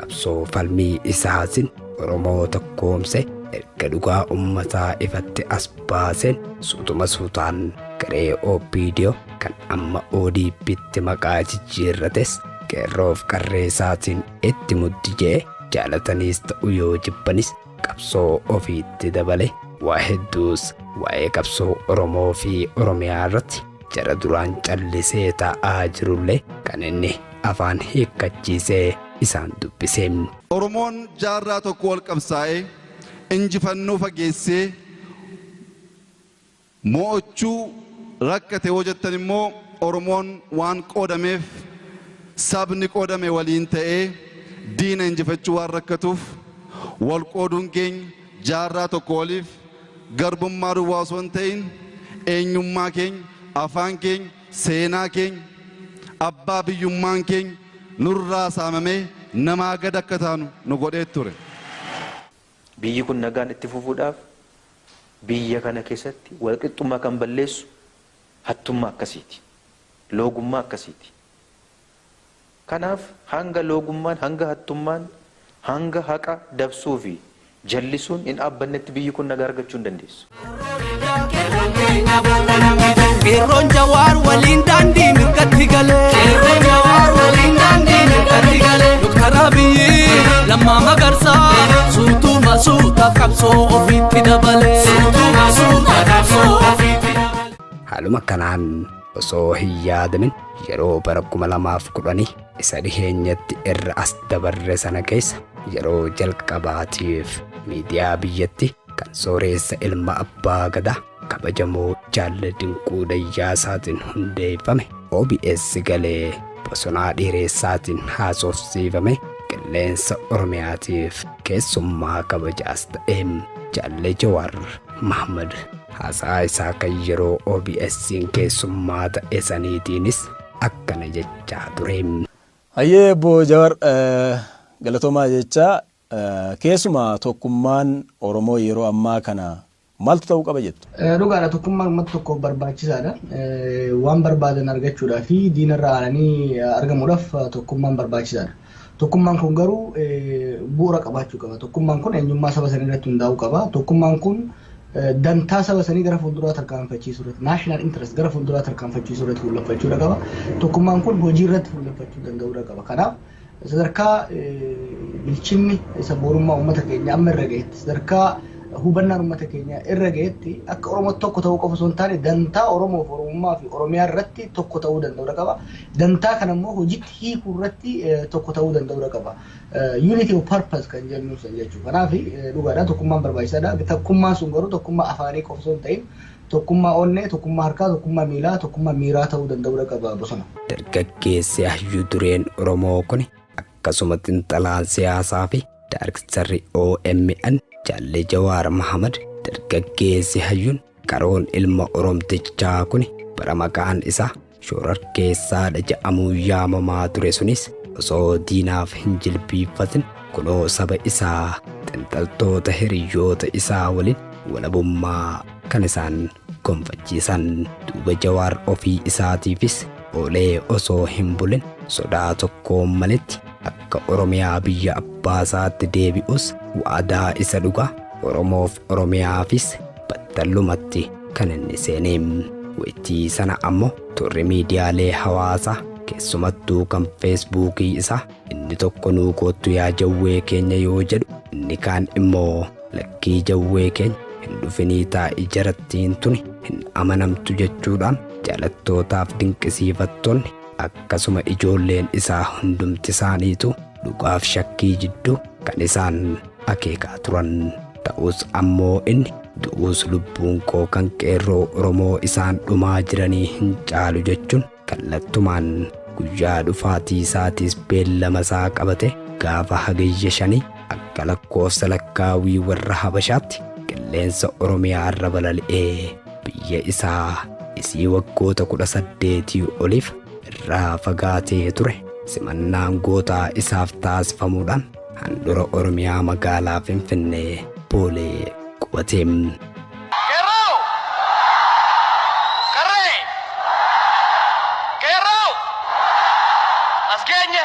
qabsoo falmii isaatiin Oromoo tokkoomse erga dhugaa ummataa ifatti as baaseen suutuma suutaan garee OPDO kan amma ODPtti maqaa jijjiirrates qeerroof qarree isaatiin itti muddi je'e jaalataniis ta'u yoo jibbanis qabsoo ofiitti dabale. Waa hedduus waa'ee qabsoo Oromoo fi Oromiyaa irratti jara duraan callisee taa'aa jirullee kan inni afaan hiikkachiisee isaan dubbise. Oromoon jaarraa tokkoo ol qabsaa'ee injifannoo fageessee Mo'ochuu, rakkate yoo jettan immoo Oromoon waan qoodameef sabni qoodame waliin ta'ee diina injifachuu waan rakkatuuf wal qooduun keenya jaarraa tokko oliif garbummaa duwwaa osoo hin ta'in eenyummaa keenya, afaan keenya, seenaa keenya, abbaa biyyummaan keenya nurraa saamamee namaa gad akka taanu nu godhee ture. Biyyi kun nagaan itti fufuudhaaf biyya kana keessatti walqixxummaa kan balleessu hattummaa akkasiiti. Loogummaa akkasiiti. Kanaaf hanga loogummaan, hanga hattummaan, hanga haqa dabsuu fi jallisuun hin dhaabbannetti biyyi kun nagaa argachuu hin dandeessu. Qeerroon jawaar waliin daandii mirgatti galee. Qeerroon jawaar waliin daandii mirgatti galee. Doktar Abiyyi lammaa magarsaa suutuma suuta qabsoo ofiitti dabalee. Suutuma suuta qabsoo ofiitti dabalee. Haaluma kanaan osoo hin yaadamin yeroo bara 2010 isa dhiheenyatti irra as dabarre sana keessa yeroo jalqabaatiif miidiyaa biyyatti Kan sooreessa ilma abbaa gadaa kabajamoo jaal Dinquu Dayyaasaatiin hundeeffame OBS galee bosonaa dhiireessaatiin haasofsiifame qilleensa Oromiyaatiif keessummaa kabajaas ta'e jaalle Jawaar Mahmad haasaa isaa kan yeroo OBS'n keessummaa ta'e saniitiinis akkana jechaa ture. Hayyee Obbo Jawar galatoomaa jechaa Keessumaa tokkummaan Oromoo yeroo ammaa kana maaltu ta'uu qaba jettu? Dhugaadha tokkummaan uummata tokkoof barbaachisaadha. Waan barbaadan argachuudhaa fi diina irraa aananii argamuudhaaf tokkummaan barbaachisaadha. Tokkummaan kun garuu bu'uura qabaachuu qaba. Tokkummaan kun eenyummaa saba sanii irratti hundaa'uu qaba. Tokkummaan kun dantaa saba sanii gara fuulduraa tarkaanfachiisuu irratti national interest gara fuulduraa tarkaanfachiisuu irratti fuulleffachuudha qaba. Tokkummaan kun hojii irratti fuulleffachuu danda'uudha qaba. Kanaaf Sadarkaa bilchinni sabboonummaa uummata keenya amma irra gahetti sadarkaa hubannaan uummata keenya irra gahetti akka Oromootti tokko ta'uu qofa osoo hin taane dantaa Oromoof Oromummaa fi Oromiyaa irratti tokko ta'uu danda'uudha qaba. Dantaa kana immoo hojiitti hiikuu irratti tokko ta'uu danda'uudha qaba. Unity of purpose kan jennu san jechuudha. Kanaaf dhugaadha tokkummaan barbaachisaadha. Tokkummaan sun garuu tokkummaa afaanii qofa osoo hin ta'in Tokkummaa onnee, tokkummaa harkaa, tokkummaa miilaa, tokkummaa miiraa ta'uu danda'uudha qaba bosona. Dargaggeessi hayyuu dureen Oromoo kuni akkasuma xinxalaan siyaasaa fi daarktarri omn Jaalle Jawaar Mahamad dargaggeessi hayyuun qaroon ilma Oromtichaa kuni bara maqaan isaa Shororkeessaadha ja'amuu yaamamaa ture sunis osoo diinaaf hin jilbiiffatin kunoo saba isaa xinxaltoota hiriyyoota isaa waliin walabummaa kan isaan gonfachiisan. Duuba Jawaar ofii isaatiifis oolee osoo hin bulin sodaa tokkoon maletti akka Oromiyaa biyya abbaasaatti deebi'us waadaa isa dhugaa Oromoof Oromiyaafis battalumatti kan inni seene. Waytii sana ammoo turri miidiyaalee hawaasaa keessumattuu kan feesbuukii isaa inni tokko nuu koottu yaa jawwee keenya yoo jedhu inni kaan immoo lakkii jawwee keenya hin dhufinii taa'i jarattiin tuni hin amanamtu jechuudhaan jaalattootaaf dinqisiifattoonni akkasuma ijoolleen isaa hundumti isaaniitu dhugaaf shakkii jiddu kan isaan akeekaa turan. Ta'us ammoo inni du'uus lubbuun koo kan qeerroo Oromoo isaan dhumaa jiranii hin caalu jechuun kallattumaan guyyaa dhufaatii isaatiis beellama isaa qabate gaafa hagayya shanii akka lakkoofsa lakkaawwii warra Habashaatti qilleensa Oromiyaa irra balali'ee biyya isaa isii waggoota kudha saddeetii oliif irraa fagaatee ture simannaan gootaa isaaf taasifamuudhaan handhura Oromiyaa magaalaa Finfinnee boolee qubate. Qeerroo! Qarree! Qeerroo! As geenye!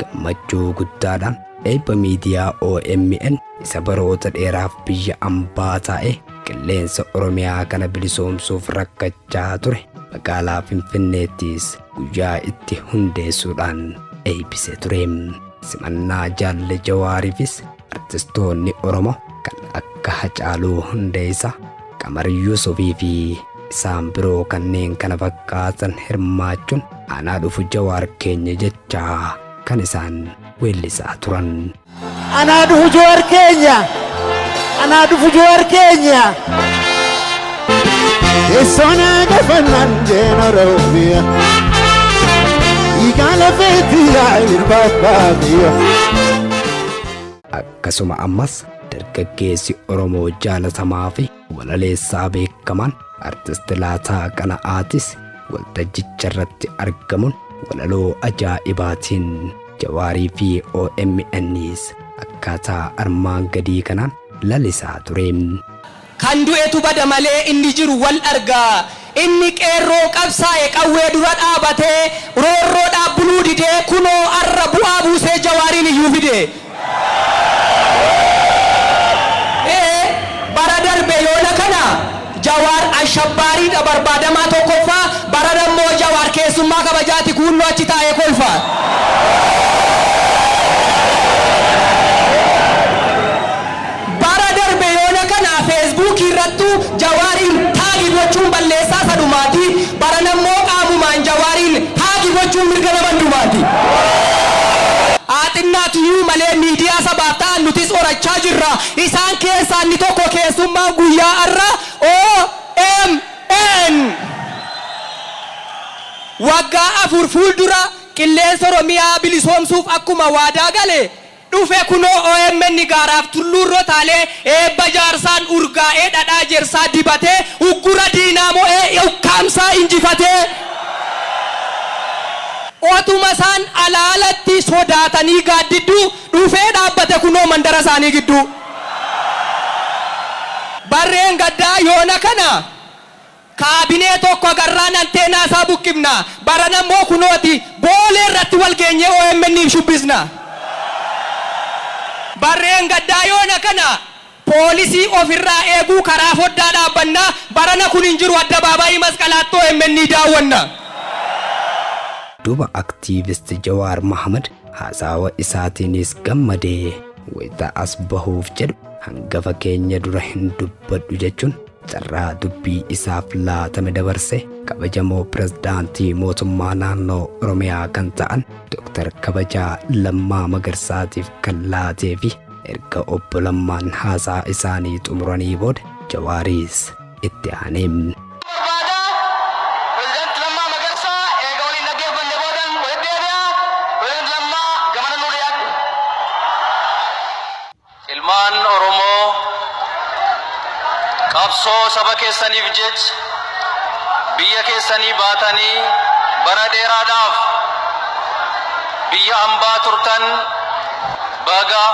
Gammachuu guddaadha eebba miidiyaa omn isa baroota dheeraaf biyya ambaa taa'ee qilleensa Oromiyaa kana bilisoomsuuf rakkachaa ture magaalaa Finfinneettis guyyaa itti hundeessuudhaan eeybisee ture. Simannaa Jaalle Jawaariifis Artistoonni Oromoo kan akka Hacaaluu Hundeessaa, Qamar Yuusufii fi isaan biroo kanneen kana fakkaatan hirmaachuun anaa dhufu Jawaar keenya jechaa kan isaan weellisaa turan. Anaa dhufu Jawaar keenya! Anaa dhufu Jawaar keenya! Teessoon gafannaan jeen Oromiyaa. Dhiigaa lafeetti yaa irbaaf baadiyyaa. Akkasuma ammas dargaggeessi Oromoo jaalatamaa fi walaleessaa beekamaan artisti Laataa Qana'aatis waltajjicha irratti argamuun walaloo ajaa'ibaatiin Jawaarii fi OMNs akkaataa armaan gadii kanaan lalisaa ture. Kan du'etu bada malee inni jiru wal arga. Inni qeerroo qabsaa'e qawwee dura dhaabate roorroodhaaf buluu didee kunoo arra bu'aa buusee Jawaariin iyyuu fide. Ee bara darbe yoona kana Jawaar ashabbaariidha barbaadamaa tokkoffaa barana immoo Jawaar keessummaa kabajaati kuunnoo achi taa'ee kolfa. Bara darbe yoona kana Facebook irrattu Jawaar in taagi gochuun balleessaa isa dhumaati, barana immoo qaamumaan Jawaar in haagi gochuun mirga nama hundumaati. Haa xinnaatu iyyuu malee miidiyaa sabaaf ta'an nutis horachaa jirra. Isaan keessaa inni tokko keessummaan guyyaa har'a omn waggaa afur fuuldura qilleensa Oromiyaa bilisoomsuuf akkuma waadaa gale, dhufe kunoo omn gaaraaf tulluurra taalee eebba jaarsaan urgaa'ee dhadhaa jersaa dibatee uggura diinaa mo'ee ukkaamsaa injifatee otuma isaan alaa alatti sodaatanii gaaddidduu dhufee dhaabbate kunoo mandara isaanii gidduu. Barreen gaddaa yoona kana Kaabinee tokko agarraan anteenaa isaa buqqifna. Barana immoo kunooti Boolee irratti wal geenyee OMNiif shubbisna. Barreengaddaa yoona kana poolisii of irraa eeguu karaa foddaa dhaabbanna. Barana kun hin jiru Addabaabaayii Masqalaatti omn daawwanna. Duuba Activist Jawaar Mohammed haasaawa isaatiinis gammadee wayita as bahuuf jedhu hangafa keenya dura hin dubbadhu jechuun Carraa dubbii isaaf laatame dabarse kabajamoo Pirezidaantii Mootummaa Naannoo Oromiyaa kan ta'an Dooktar Kabajaa Lammaa Magarsaatiif kan laatee fi erga Obbo Lammaan haasaa isaanii xumuranii booda Jawaaris itti aanee. barbaada. Pirezidaanti Lammaa Magarsaa eega waliin dhaggeeffanne boodan walitti deebi'a. Pirezidaanti Lammaa, gamana nuu dhiyaadhu. Ilmaan Oromoo qabsoo saba keessaniif jecha biyya keessanii baatanii bara dheeraadhaaf biyya ambaa turtan baga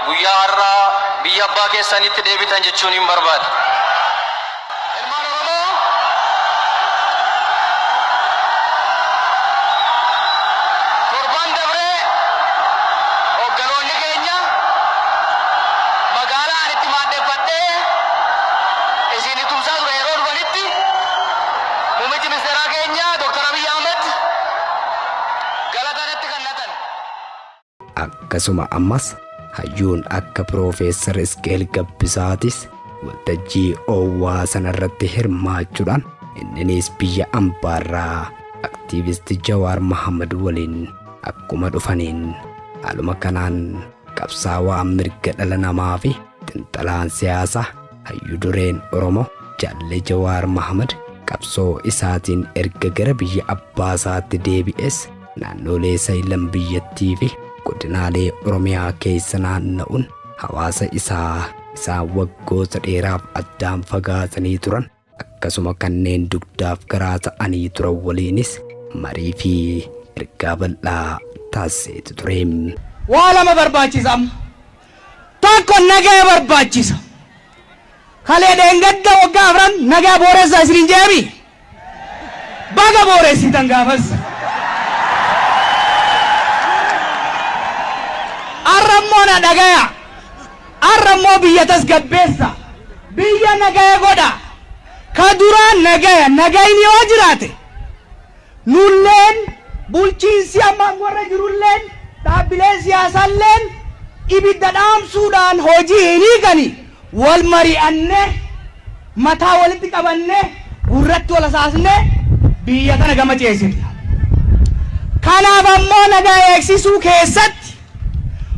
guyyaa har'aa biyya abbaa keessaniitti deebitan jechuuniin barbaada. Ilmaan Oromoo torban dabre hoogganoonni keenya magaalaa ani itti maandheffadhee isin tumsaa ture yeroo dhufanitti muummichi ministeeraa keenya Dr. Abiy Ahmed galata natti kannatan. Akkasuma ammas hayyuun akka Piroofeesar Isqeel Gabbisaatis waltajjii oowwaa sanarratti hirmaachuudhaan inninis biyya ambaarraa Aktiivist Jawaar Mahaammad waliin akkuma dhufaniin haaluma kanaan qabsaawaa mirga dhala namaafi xinxalaan siyaasaa Hayyu dureen Oromoo Jaalle Jawaar Mahamad qabsoo isaatiin erga gara biyya abbaa isaatti deebi'es naannoolee sayilan biyyattii fi godinaalee Oromiyaa keessa naanna'uun hawaasa isaa isaan waggoota dheeraaf addaan fagaatanii turan akkasuma kanneen dugdaaf garaa ta'anii turan waliinis marii fi ergaa bal'aa taasiseeti ture. Waa lama barbaachisa amma. Tokko nagaa barbaachisa. Kalee dheengadda waggaa afran nagaa booressaa isiniin jeemi. Baga booressitan gaafas. Arra immoo na dhagaya. Arra immoo biyya tasgabbeessa, biyya nagaya godha. Ka duraan nagaya, nagayni yoo jiraate, nulleen, bulchiinsi amma aangorra jirulleen, dhaabbileen siyaasalleen ibidda dhaamsuudhaan hojii hin hiikani. Wal mari'annee, mataa walitti qabannee, gurratti wal hasaasnee biyya tana gama ceesifna. Kanaaf ammoo nagaya eegsisuu keessatti,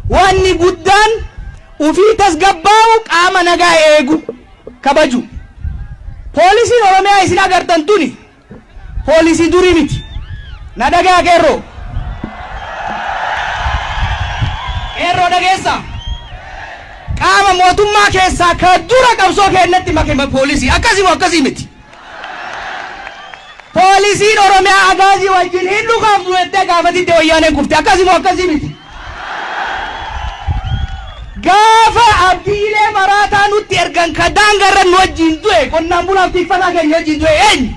Waanni guddaan ufii tasgabbaa'uu qaama nagaa eegu, kabaju. Poolisiin Oromiyaa isin agartan tuni poolisii durii miti. Na dhagaha qeerroo. Qeerroo dhageessa. Qaama mootummaa keessaa ka dura qabsoo keennatti make poolisii. Akkasii moo akkasii miti? Poolisiin Oromiyaa Agaazii wajjin hin dhukaafnu jettee gaafatitti Wayyaaneen kufte. Akkasii moo akkasii miti? Gaafa abdiilee maraataa nutti ergan ka daanga irra nu wajjin du'e qonnaan bulaaf tikfataa keenya wajjin du'e eenyu?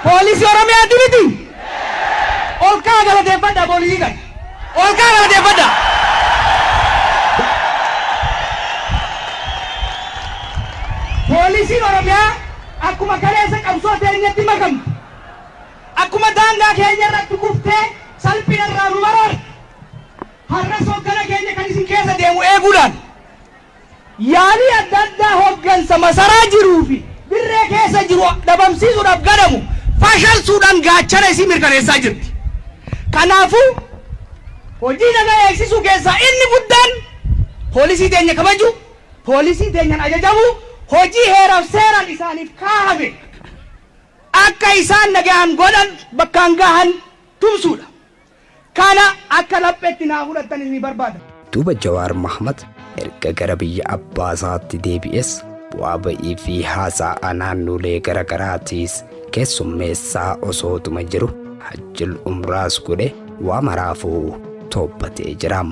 Poolisii Oromiyaati miti? Ol ka'a galateeffadha bor hiikan. Ol ka'a galateeffadha. Poolisiin Oromiyaa akkuma kaleessa qabsoo teenyatti makamte. Akkuma daangaa keenya irratti kuftee salphina irraa nu baraarte. Har'as hoggana keenya kan isin keessa deemu eeguudhaan Yaalii adda addaa hoggansa masaraa jiruu fi dirree keessa jiru dhabamsiisuudhaaf gadhamu fashalsuudhaan gaachana isii mirkaneessaa jirti. Kanaafuu hojii nagaa eegsisuu keessaa inni guddaan poolisii teenya kabajuu, poolisii teenyaan ajajamuu, hojii heeraaf seeraan isaaniif kaahame akka isaan nagaan godhan bakkaan gahan tumsuudha. Kana akka laphetti naa fudhattanis ni barbaada. Duuba Jawaar Mahmad erga gara biyya abbaa isaatti deebi'es bu'aa ba'ii fi haasa'aa naannolee gara garaatiis keessummeessaa osootuma jiru Hajjil Umraas godhe waa maraafuu toobbatee jira.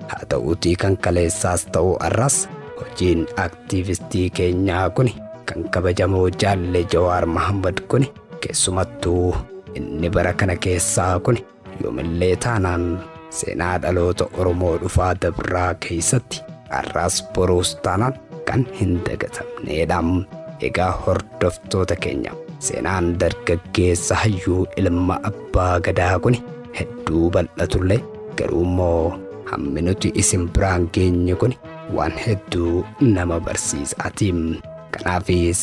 Haa ta'uutii kan kaleessaas ta'u arraas hojiin aktiivistii keenyaa kuni kan kabajamoo Jaalle Jawaar Mahmad kuni Keessumattuu inni bara kana keessaa kun yoomillee taanaan seenaa dhaloota Oromoo dhufaa dabraa keessatti har'aas boruus taanaan kan hin dagatamneedha. Egaa hordoftoota keenya seenaan dargaggeessa hayyuu ilma abbaa gadaa kun hedduu bal'atullee garuu immoo hammi nuti isin biraan geenye kun waan hedduu nama barsiisaati. Kanaafis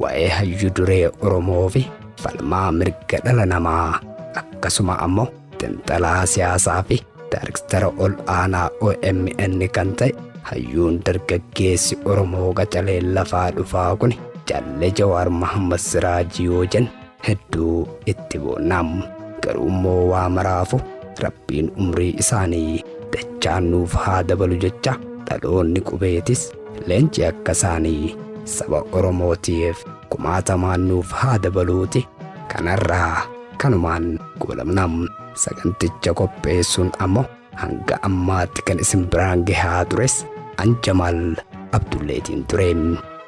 Wa'ee hayyu duree Oromoo fi falmaa mirga dhala namaa akkasuma ammoo xinxalaa siyaasaa fi daarektara ol aanaa OMN kan ta'e hayyuun dargaggeessi Oromoo qacalee lafaa dhufaa kun Jalle Jawaar Mahammad Siraajii yoo jennu hedduu itti boonna garuu immoo waa maraafu rabbiin umrii isaanii dachaan nuuf haa dabalu jecha dhaloonni qubeetis leenci akka isaanii saba oromootiif kumaatamaan nuuf haa dabaluuti kanarraa kanumaan goolabna saganticha qopheessuun ammoo Hanga ammaatti kan isin biraan gahaa tures an Jamaal Abdulleetiin ture.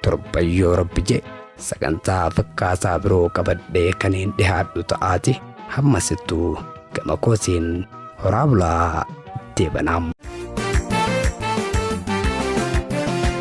Torban yoo rabbi jee sagantaa fakkaataa biroo qabadhee kaniin dhihaadhu ta'aati hammasittu gama koosiin horaa bulaa deebanaam.